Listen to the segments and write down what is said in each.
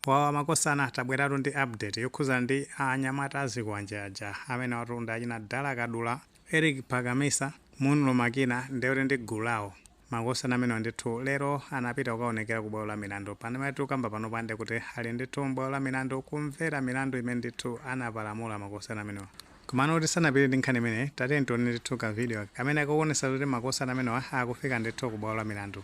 Wawa makosana tabweratu ndi update yokhudza anyamata azikwanje aja amenewatu ndi achina Dala Kadula, Eric Phaka Mesa, Munlo Makina ndekuti ndi gulu lawo. Makosana amenewa ndithu lero anapita kukaonekera ku bwalo la milandu. Pano pamene tikukamba panopa ndekuti ali ndithu m'bwalo la milandu kumvera milandu imene ndithu anapalamula makosana amenewa. Komano tisanapite ndi nkhani imeneyi tatiyeni tione ndithu ka video aka kamene kakuonetsa zoti makosana amenewa akufika ndithu ku bwalo la milandu.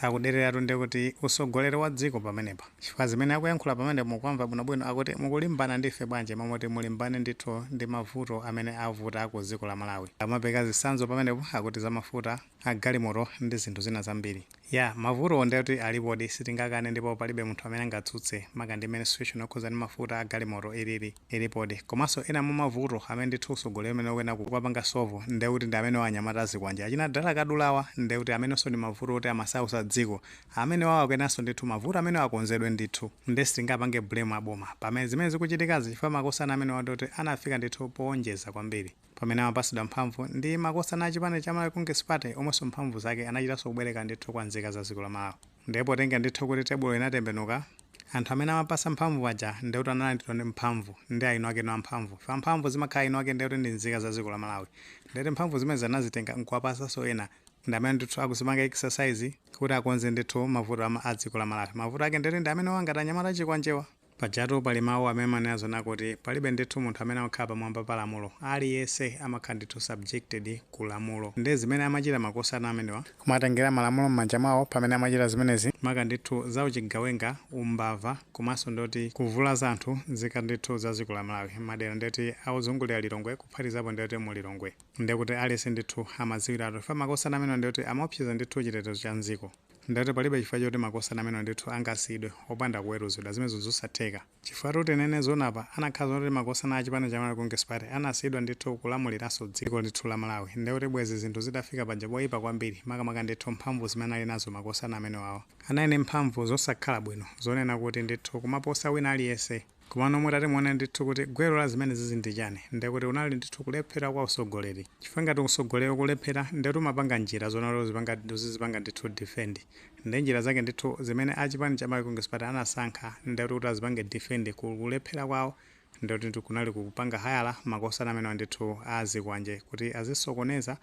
Akudereratu ndikuti usogoleri wa dziko pamenepa chifukwa zimene akuyankhula pamenepo mukuwamva bwinobwino akuti mukulimbana ndi ife bwanji m'malo moti mulimbane ndithu ndi mavuto amene avuta ku dziko la Malawi amapereka zitsanzo pamenepo akuti za mafuta a galimoto ndi zinthu zina zambiri yaa mavutowo ndekuti alipodi sitingakane ndipo palibe munthu amene angatsutse maka ndi mmene situation yokhudza ndi mafuta a galimoto ilili ilipodi komanso ena mwa mavuto amene ndithu utsogoleri umene ukuyenera kuwapanga solve nde kuti ndi amenewa anyamata azikwanje achina Dala Kadulawa nde kuti amenenso ndi mavuto oti amasausa dziko amenewawo akuyeneranso ndithu mavuto amenewa akonzedwe ndithu nde sitingapange blame a boma pa zimene zikuchitikazi chifukwa makosana amenewa ndioti anafika ndithu poonjeza kwambiri pamene amapatsidwa mphamvu ndi makosana a chipani cha Malawi Congress Party omwenso mphamvu zake anachitanso kubwereka ndithu kwa nzika za dziko la Malawi. Ndiye potenga ndithu kuti tebulo inatembenuka, anthu amene amawapasa mphamvu aja ndiye kuti analandidwa mphamvu ndi eni ake amphamvu. Chifukwa mphamvu zimakhala eni ake ndiye kuti ndi nzika za dziko la Malawi. Ndiye kuti mphamvu zimenezi anazitenga nkuwapasanso ena ndi amene ndithu akuzipanga exercise kuti akonze ndithu mavuto a dziko la Malawi. Mavuto ake ndiye kuti ndi amenewa ngati anyamata azikwanjewa. Pajatu pali mau amene amanena zoona kuti palibe ndithu munthu amene amakhala pamwamba pa lamulo. Aliyense amakhala ndithu subjected ku lamulo. Nde zimene amachita makosana amenewa, kumatengera malamulo mmanja mwawo pamene amachita zimenezi, maka ndithu za uchigawenga, umbava komanso ndeti kuvulaza anthu nzika ndithu za dziko la Malawi mmadera ndeti ozungulira Lilongwe kuphatikizapo ndeti mu Lilongwe. Ndekuti aliyense ndithu amadziwiratu chifukwa makosana amenewa ndekuti amaopseza ndithu chitetezo cha mdziko. Ndeti palibe chifukwa choti makosana amenewa ndithu angasiyidwe opanda kuweruzidwa. Zimenezo nzosatheka. Chifukwatu tinene zoona apa, anakhala zoona kuti makosana a chipani cha Malawi Congress Party anasiyidwa ndithu kulamuliranso dziko ndithu la Malawi, ndiye kuti bwezi zinthu zitafika paja poipa kwambiri, makamaka ndithu mphamvu zimene anali nazo makosana amenewawa, anali ndi mphamvu zosakhala bwino zonena kuti ndithu kumaposa wina aliyense. Komano mutati muone ndithu kuti gwero la zimenezizi ndi chani, ndiye kuti kunali ndithu kulephera kwa usogoleri. Chifukwa ngati usogoleri ukulephera, ndiye kuti umapanga njira zonena kuti uzipanga, uzizipanga ndithu defend. Ndiye njira zake ndithu zimene a chipani cha Malawi Congress Party anasankha, ndiye kuti kuti azipange defend ku kulephera kwawo, ndiye kuti kunali kupanga hayala makosana amenewa ndithu azikwanje kuti azisokoneza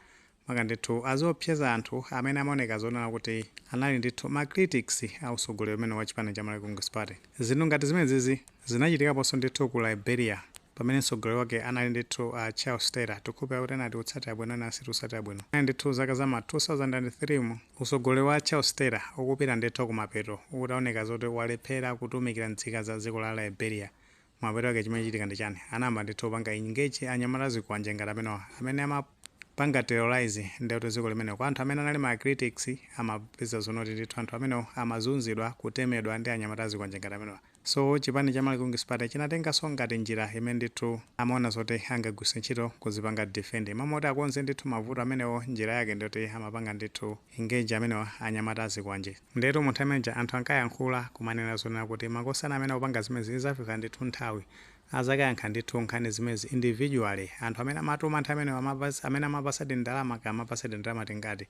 maka ndithu aziopseza anthu amene amaoneka zonena kuti anali ndithu ma critics a utsogoleri umenewu wa chipani cha Malawi Congress Party. Zinthu ngati zimenezizi zinachitikaponso ndithu ku Liberia pamene mtsogoleri wake anali ndithu a Charles Taylor, tikhulupirira kuti ena tikutsatira bwino ena sitikutsatira bwino. Kunali ndithu zaka za ma 2003 mu, utsogoleri wa Charles Taylor ukupita ndithu kumapeto utaoneka zoti walephera kutumikira nzika za dziko la Liberia mapeto ake chimachitika ndi chani? anayamba ndithu kupanga engage anyamata azikwanje ngati amenewa amene amapanga terrorise ndithu dziko limenelo kwa anthu amene anali ma critics amapeza zonena kuti ndithu anthu amenewo amazunzidwa kutemedwa ndi anyamata azikwanje ngati amenewa so chipani cha Malawi Congress Party chinatenganso ngati njira imene ndithu amaona zoti angagwiritse ntchito kuzipanga defend m'malo moti akonze ndithu mavuto amenewo njira yake ndiyoti amapanga ndithu Engage amenewa anyamata azikwanje. Ndiyetu mu nthawi imeneija anthu ankayankhula kumanena zonena kuti makosana amene akupanga zimenezi izafika ndithu nthawi azakayankha ndithu nkhani zimenezi individually. Anthu amene amatuma nthawi imeneyo amene amene amapasadi ndalama kaya amapasadi ndalama tingati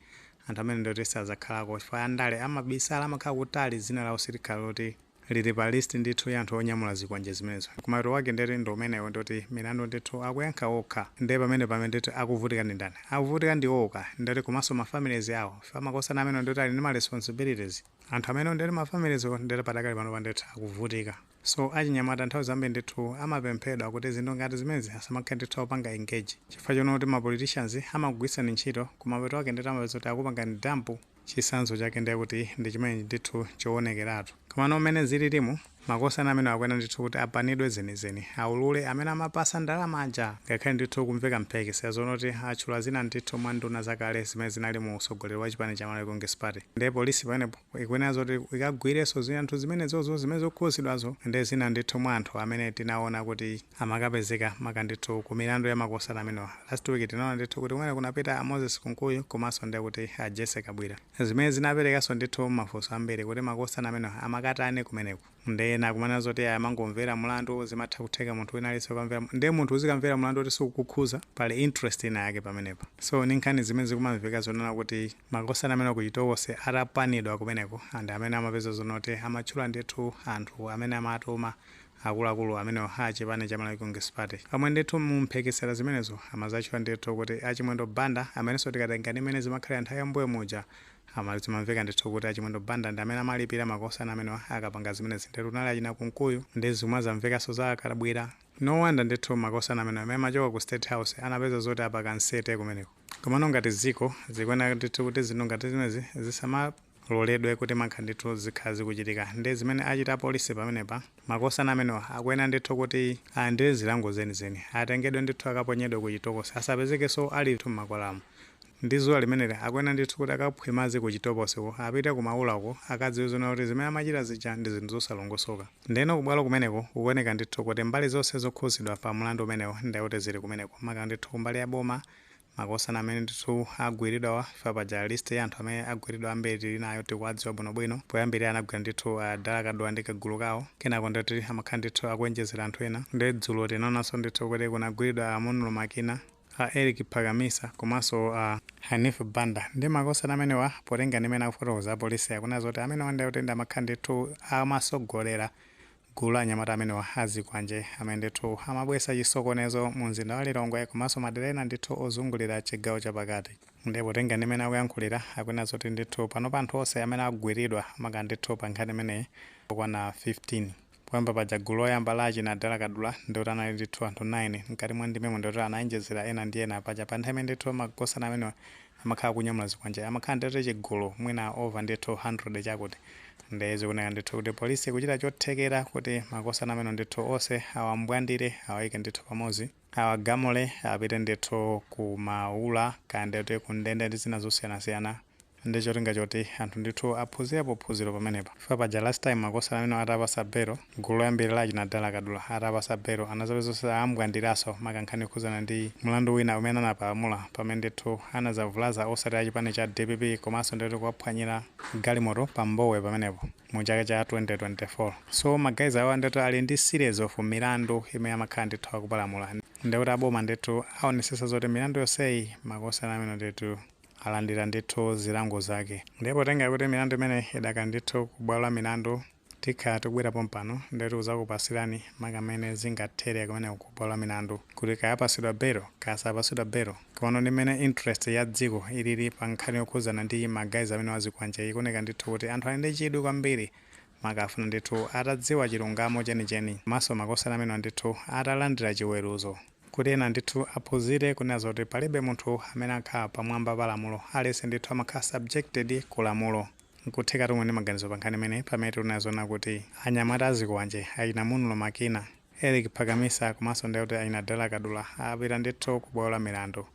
anthu amene ndoti sazakhalako chifukwa andale amabisala amakhala kutali dzina lawo silikhala loti lili pa list ndithu ya anthu onyamula zikwanje zimenezi kumapeto kwake ndeti ndi umenewo ndoti milandu ndithu akuyankha okha nde pamene pame ndeti akuvutika ndi ndani akuvutika ndi iwowo ka ndeti komanso ma families awo chifukwa makosana amenewo ndeti ali ndi ma responsibilities anthu amenewo ndeti ma families awo ndeti padakali panopa ndithu akuvutika so achinyamata nthawi zambiri ndithu amapemphedwa kuti zinthu ngati zimenezi asamakhale ndithu akupanga engage chifukwa chonena kuti ma politicians amakugwiritsani ntchito kumapeto kwake ndeti amapeza kuti akupangani dump Chitsanzo chake ndiye kuti ndi chimenechi ndithu chowonekeratu. Komano mmene zililimu, makosana amenewa akuyenera ndithu kuti apanidwe zenizeni, aulule amene amapasa ndalama aja! Ngakhale ndithu kukumveka mphekesera zonoti atchula zina ndithu mwa nduna zakale zimene zinali mu utsogoleri wa chipani cha Malawi Congress Party. Ndiye polisi pamenepo ikuyenera zoti ikagwirenso zinthu zimenezozo zimene zikukhuzidwazo ndi zina ndithu mwa anthu amene tinawona kuti. amakapezeka maka ndithu ku milandu ya makosana amenewa. Last week tinaona ndithu kuti kumeneko kunapita a Moses Kunkuyu komanso ndiye kuti a Jessie Kabwila zimene zinaperekanso ndithu mafunso ambiri kuti makosana amenewa amakatani kumeneko. Ndiye ena akumanena zoti ayi amangomvera mlandu, zimatha kutheka munthu wina aliyense kukamvera mlandu. Ndiye munthu uzikamvera mlandu woti sukukukhuza, pali interest ina yake pamenepa. So ndi nkhani zimene zikumamveka zonena kuti makosana amenewa ku Chitokosi atapanidwa kumeneko and amene amapeza zonena kuti amatchula ndithu anthu amene amawatuma akuluakulu amenewa a chipani cha Malawi Congress Party. Pomwe ndithu mu mphekesera zimenezo amadzatchula ndithu kuti a Chimwendo Banda amenenso tikatenga ndi mmene zimakhalira nthawi ya m'mbuyo muja, amati zimamveka ndithu kuti a Chimwendo Banda ndi amene amalipira makosana amenewa akapanga zimenezi nde kunali achina Kunkuyu ndi zomwe zamvekanso za a Kabwila. No wonder ndithu makosana amenewa amene amachoka ku State House anapeza zoti apakana nsete kumeneko. Komano ngati dziko, zikuyenera ndithu kuti zinthu ngati zimenezi zisama. Muloledwe kutimankha ndithu zinkakhala zikuchitika nde zimene achita apolisi pamenepa makosana amenewa akuyenera ndithu kuti alandire zilango zenizeni atengedwe ndithu akaponyedwe ku chitokosi asapezekeso ali ndithu mmakwalalamu ndi zuwa limeneli akuyenera ndithu kuti akamwe madzi ku chitokosi uko apite ku maula uko akadziwe zoona kuti zimene amachita zija ndi zinthu zosalongosoka ndeno ku bwalo kumeneko kukuoneka ndithu kuti mbali zonse zokhuzidwa pa mulandu umenewu ndekuti zili kumeneko maka ndithu kumbali ya boma makosana amene ndithu agwiridwawa chifukwa paja list ya anthu amene agwiridwa ambiri tili nayo tikuwadziwa bwinobwino poyambirira anagwira ndithu uh, Dala Kadula ndi kagulu kawo kenako ndoti amakhala ndithu akuenjezera anthu ena nde dzulo tinaonanso ndithu kuti kunagwiridwa a Munlo Makina a Eric Phakamisa komanso a Hanif Banda ndi makosana amenewa potenga ndi mmene akufotokoza apolisi akunena zoti amenewa ndi akuti ndi amakhala ndithu amasogolera Gulu la anyamata amenewa a zikwanje amene ndithu amabwesa chisokonezo mu nzinda wa Lilongwe komanso madera ena ndithu ozungulira chigawo cha pakati. Nde potenga ndi mmene akuyankhulira akunena zoti ndithu panopa anthu onse amene agwiridwa maka ndithu pa nkhani imeneyi ndi okwana 15. Poyamba paja gulu loyamba la achina Dala Kadula ndioti anali ndithu anthu 9. Mkati mwa ndimemo ndioti anaenjezera ena ndi ena. Paja pa nthawi imene ndithu makosana amenewa amakhala akunyamula zikwanje amakhala ndithu chigulu mwina over ndithu 200 chakuti nde zikuoneka ndithu kuti polisi ikuchita chothekera kuti makosana amenewa ndithu onse awambwandire awaike ndithu pamodzi awagamule apite ndithu ku maula kaya ndiye kuti kundende ndi zina zosiyanasiyana ndi cholinga choti anthu ndithu aphunzirepo phunziro pamenepa. chifukwa paja last time makosana amenewa atapasa bail gulu loyambirira la achina Dala Kadula atapasa bail anazapeza kuti am'bwandiraso maka nkhani yokhudzana ndi mlandu wina umene anapalamula pamene ndithu anazavulaza otsatira chipani cha dpp komanso ndithu kuwaphwanyira galimoto pa Mbowe pamenepo mu chaka cha 2024 so ma guys awa ndithu ali ndi series of milandu imene amakhala ndithu akupalamula ndekuti aboma ndithu aonesesa zoti milandu yonseyi makosana amenewa ndithu alandira ndithu zilango zake. Ndiye potengera kuti milandu imeneyi idakali ndithu ku bwalo la milandu, tikhala tikubwera pompano ndi kudzakupasirani maka mmene zingathere kumeneko ku bwalo la milandu kuti kaya apasidwa belo kaya sapasidwa belo. Komano ndi mmene interest ya dziko ilili pa nkhani yokhudzana ndi ma guys amenewa a zikwanje ikuoneka ndithu kuti anthu ali ndi chidwi kwambiri maka akufuna ndithu atadziwa chilungamo chenicheni komanso makosana amenewa ndithu atalandira chiweruzo. Kuti ena ndithu aphunzire kunena zoti palibe munthu amene amakhala pamwamba pa lamulo, aliyense ndithu amakhala subjected ku lamulo. Nkuthekatu muli ndi maganizo pa nkhani imeneyi pamene tikunena zonena kuti anyamata a zikwanje, achina Munlo Makina, Eric Phakamisa komanso ndiye kuti achina Dala Kadula apita ndithu ku bwalo la milandu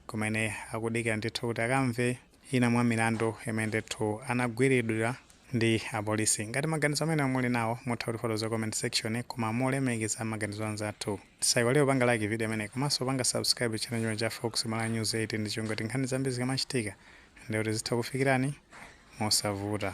kumene akudikira ndithu kuti akamve Ina mwa milandu imene ndithu anagwiridwa ndi apolisi. Ngati maganizo amenewa muli nawo mutha kutifotokozera ku comment section koma molemekeza maganizo anzathu. Tisaiwalire kupanga like video imeneyi komanso kupanga subscribe channel chino cha Fox Malawi News 8 ndi cholinga choti nkhani zambiri zikamachitika ndiye kuti zitha kukufikirani mosavuta.